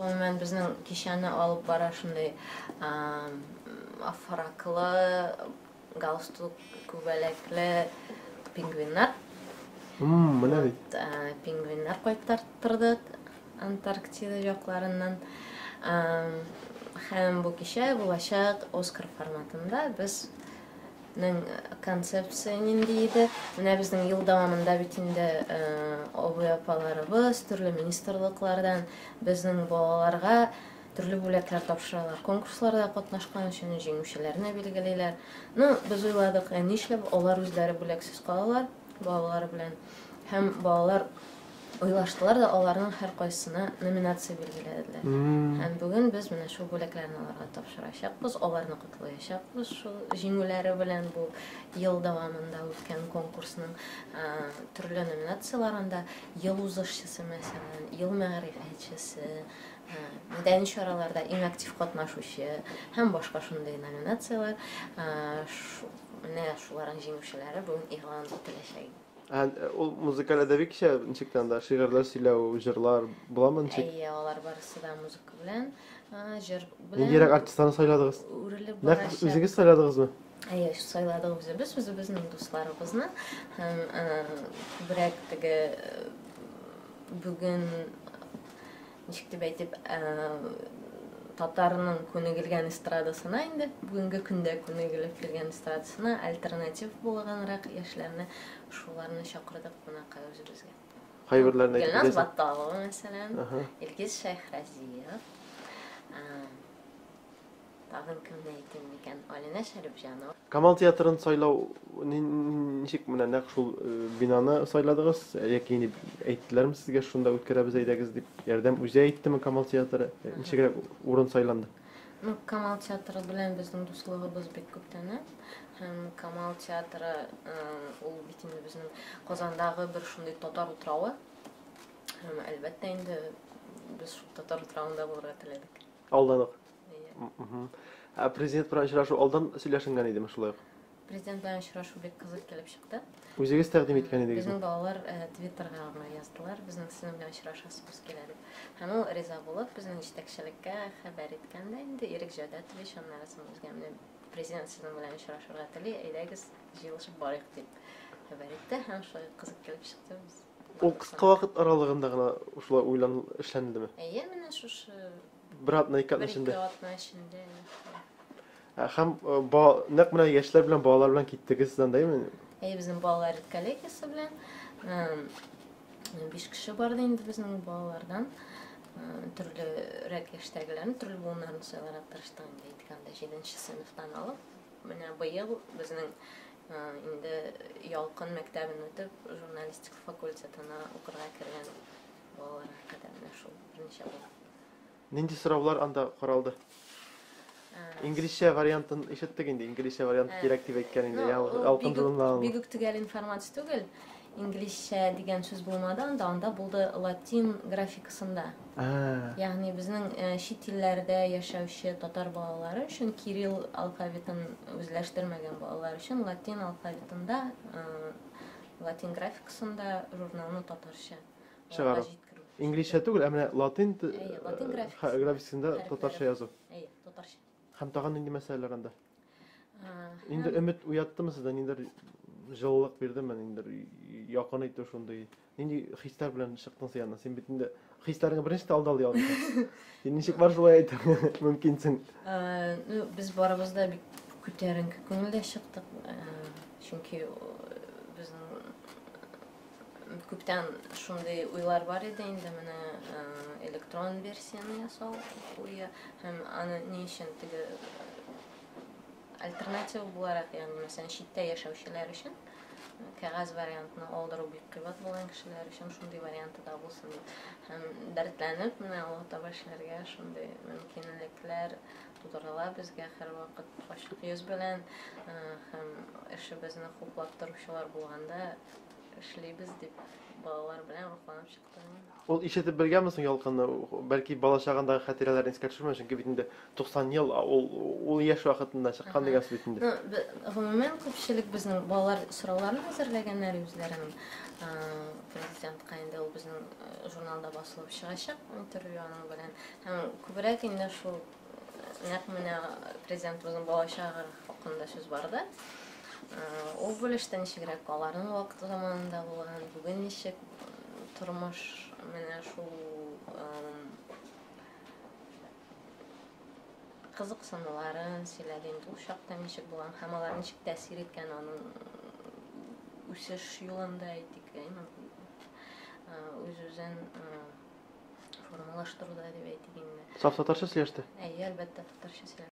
Гомумән, безнең кичәне алып бара шундый афраклы, галстук, күбәләкле пингвиннар. Мм, менә бит. Пингвиннар кайтартырдык Антарктида якларыннан. Һәм бу кичә булачак Оскар форматында без Ның концепция нинди иде? Менә безнең ел дәвамында бит инде абый-апаларыбыз төрле министрлыклардан безнең балаларга төрле бүләкләр тапшыралар. Конкурсларда катнашкан өчен җиңүчеләрне билгелиләр. Ну, без уйладык, ә нишләп алар үзләре бүләксез калалар балалары белән? Һәм балалар Уйлаштылар да аларның һәркайсына номинация билгеләделәр. Һәм бүген без менә шул бүләкләрне аларга тапшырачакбыз, аларны котлаячакбыз шул җиңүләре белән бу ел дәвамында үткән конкурсның төрле номинацияләрендә ел узышчысы, мәсәлән, ел мәгърифәтчесе, мәдәни чараларда иң актив катнашучы һәм башка шундый номинацияләр. Менә шуларның җиңүчеләре бүген игълан ителәчәк. Ә э, ул музыкаль әдәби кичә ничек тә анда шигырьләр сөйләү, җырлар буламы ничек? Әйе, алар барысы да музыка белән, а, җыр белән. Ниндирәк артистларны сайладыгыз? Үрелеп Нәкъ барачак. үзегез сайладыгызмы? Әйе, сайладык үзебез, үзебезнең дусларыбызны. Һәм э, күбрәк теге э, бүген ничек дип әйтеп, татарның күнегелгән эстрадасына инде бүгенге көндә күнегелеп килгән эстрадасына альтернатив булганрак яшьләрне шуларны чакырдык кунакка үзебезгә. Кайберләрен әйтеп Гөлназ Батталова мәсәлән, Илгиз Шәйхразиев. Тагын кемне әйтим микән? Алинә Шәрипҗанова. Камал театрын сайлау ничек менә нәкъ шул э, бинаны сайладыгыз? Яки инде әйттеләрме сезгә шунда үткәрәбез әйдәгез дип? Ярдәм үзе әйттеме Камал театры? Э, ничегрәк урын сайланды? Ну, Камал театры белән безнең дуслыгыбыз бик күптәннән. Һәм Камал театры э, ул бит инде безнең Казандагы бер шундый татар утравы. Һәм әлбәттә инде без шул татар утравында булырга теләдек. Алданып. Ә президент белән очрашу алдан сөйләшенгән идеме шулай ук? Президент белән очрашу бик кызык килеп чыкты. Үзегез тәкъдим иткән идегез? Безнең балалар э, Твиттерга гына яздылар, безнең сезнең белән очрашасыбыз килә дип. Һәм ул риза булып, безнең җитәкчелеккә хәбәр иткән дә инде Ирек Җәүдәтович, аннары соң үзгә менә президент сезнең белән очрашырга тели, әйдәгез, җыелышып барыйк дип хәбәр итте һәм шулай кызык килеп чыкты без. Ул кыска вакыт аралыгында гына шулай уйлан эшләнелдеме? Әйе, менә шушы Бер атна ике атна эчендә. Бер ике атна эчендә. Ә, һәм э, ба, нәкъ менә яшьләр белән балалар белән киттегез сездән дәйме? Әйе, безнең балалар коллегиясе белән э, биш кеше барды инде безнең балалардан. Э, төрле рәк яшьтәгеләрне, төрле буыннарны сайларга тырыштык инде әйткәндә, җиденче сыйныфтан алып. Менә быел безнең инде Ялкын мәктәбен үтеп, журналистика факультетына укырга кергән Балалар хакында менә шул берничә бала. Нинди сораулар анда каралды? Инглизчә вариантын ишеттек инде, инглизчә вариант э, кирәк дип әйткән инде. Я, алкындылына. Бик үк төгәл информация түгел. Инглизчә дигән сүз булмады анда, анда булды латин графикасында. Ягъни безнең э, чит илләрдә яшәүче татар балалары өчен кирилл алфавитын үзләштермәгән балалар өчен латин алфавитында э, латин графикасында журналны татарча. чыгару. Инглизчә түгел, ә менә латин графикасында татарча язу. Әйе, татарча. Һәм тагын нинди мәсьәләләр анда? Инде өмет уяттымы сездә, ниндер җылылык бирдеме, ниндер якын итү шундый. Нинди хисләр белән чыктың сиянә? Син бит инде хисләреңә беренче тә алдал ял итә. Син ничек бар шулай әйтә? Мөмкинсең. Ну, без барыбыз да бик күтәренке күңелдә чыктык. Чөнки безнең Күптән шундый уйлар бар иде инде менә э, электрон версияне ясау уе һәм аны ни өчен теге э, альтернатива буларак, ягъни мәсәлән читтә яшәүчеләр өчен э, кәгазь вариантны алдыру бик кыйбат булган кешеләр өчен шундый варианты да булсын дип һәм дәртләнеп менә алга таба эшләргә шундый мөмкинлекләр Тудырыла безгә һәрвакыт ачык йөз белән һәм эшебезне хуплап торучылар булганда эшлибез, дип балалар белән рухланып чыктым мин. Ул ишетеп белгәнме соң Ялкынны? Бәлки, бала чагындагы хатирәләрен искә төшермәү, чөнки бит инде 90 ел ул ул яшь вакытында чыккан дигән сүз бит инде. Гомумән, күпчелек безнең балалар сорауларын әзерләгәннәр үзләренең Президентка, инде ул безнең журналда басылып чыгачак интервью аның белән. Һәм күбрәк инде шул нәкъ менә президентыбызның бала чагы хакында сүз барды. Ул бүлештә ничегрәк аларның вакыты заманында булган, бүген ничек тормыш менә шул кызыксынуларын сөйләде инде ул чакта ничек булган һәм алар ничек тәэсир иткән аның үсеш юлында әйтик именно үз үзен формалаштыруда дип әйтик инде. Саф татарча сөйләште? Әйе, әлбәттә, татарча сөйләште.